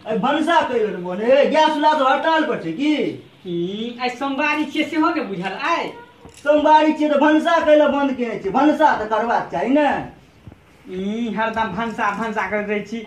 अरे भनसा कहि बेर मोने गैस चूल्हा तो हड़ताल पर छै की ई, आइ सोमवारी छियै सेहो ने बुझल आइ सोमवारी छियै तऽ भनसा कहि लए बन्द केने छियै भनसा तऽ करबाक चाही ने ई हरदम भनसा भनसा करैत रहै छी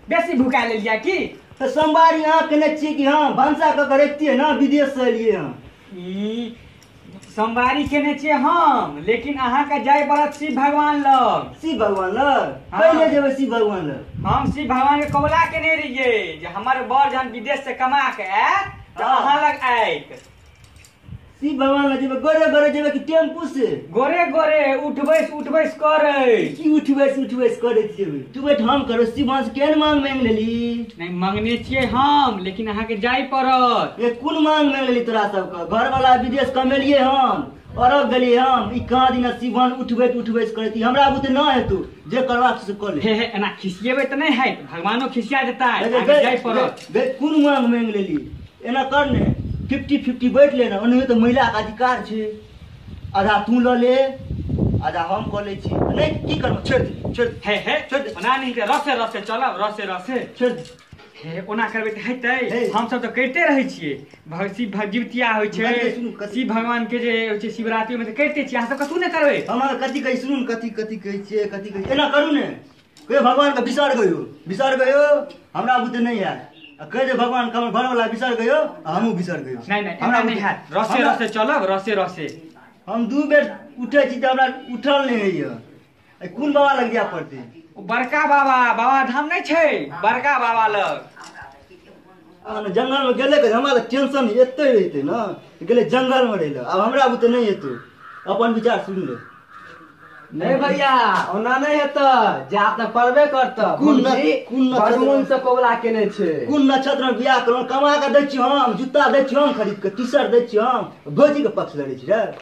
बेसी भुका लेलियै की तऽ सोमवारी अहाँ केने छियै कि हँ भनसा कऽ के रखतियै ने विदेश से एलियै हँ ई सोमवारी केने छियै हम लेकिन अहाँके जाय पड़त शिव भगवान लग शिव भगवान लग हँ। पहिले जेबै शिव भगवान लग हम शिव भगवान के कबूला केने रहियै जे हमर बर जहन विदेश से कमा के आयत तऽ हँ। अहाँ लग आयत शिव भगवान लग जेबै गोरे गोरे जेबै कि टेम्पू से गोरे गोरे उठबैस उठबैस करै की उठबैस उठबैस करै जेबै तू बैठ हम करो शिव भगवान से केहन मांग मांग लेली नहि मांगने छियै हम लेकिन अहाँके जाय पड़त ये कोन मांग मांग लेली तोरा सबके घर वाला विदेश कमेलिए हम अरब गेलिए हम ई कहाँ दिन शिव भगवान उठबैत उठबैस करै ती हमरा बुते न हेतौ जे करबाक से कर ले हे हे एना खिसिएबै तऽ नहि हैत भगवानो खिसिया जेता अहाँके जाय पड़त कोन मांग मांग लेली एना कर ने फिफ्टी फिफ्टी बैठ ले ने ओनाहियो तऽ महिलाके अधिकार छै आधा तू लऽ ले आधा हम कऽ लै छी नहि की करबो छोड़ि दे छोड़ि दे हे हे छोड़ि दे बना नहीं के रसे रसे चलब रसे रसे छोड़ि दे हे ओना करबै तऽ हेतै हे। हमसभ तऽ करिते रहै छियै भग- शिव भग- जितिया होइ छै बात सुनू, कथी- शिव भगवान के जे होइ छै शिवरात्रिमे तऽ करिते छियै अहाँ सब कथू नहि करबै हम अहाँ कथी कहै सुनू ने कथी कथी कहै छियै कथी कहै छियै एना करू ने कहियो भगवान के बिसर गयो बिसर गयो हमरा बुते नहीं है आ कह दे भगवान के हमर घर वाला बिसर गयो आ हमहू बिसर गयो नहीं नहीं हमरा हमरा नहीं बुते- हैत रसे हमरा- रसे चलब रसे रसे हम दू बेर उठे छी तऽ हमरा उठल नहीं होइए ए, कोन बाबा लग जाय पड़तै ओ बड़का बाबा बाबा धाम नहीं छै बड़का बाबा लग अहाँ जंगलमे गेले करी हमरा तऽ टेंशन एते रहिते ने गेले जंगलमे रहै लए आब हमरा बुते नहि हेतौ अपन विचार सुनि ले नहि भैया ओना नहि हेतै जात ने पड़बे करतै कोन न- मौसी कोन न- बड़ मोन से कौला केने छै कोन नक्षत्र में बियाह करू कमा के दै छी हम जूता दै छी हम खरीद के टी शर्ट दै छी हम भौजी के पक्ष लड़ै छी रे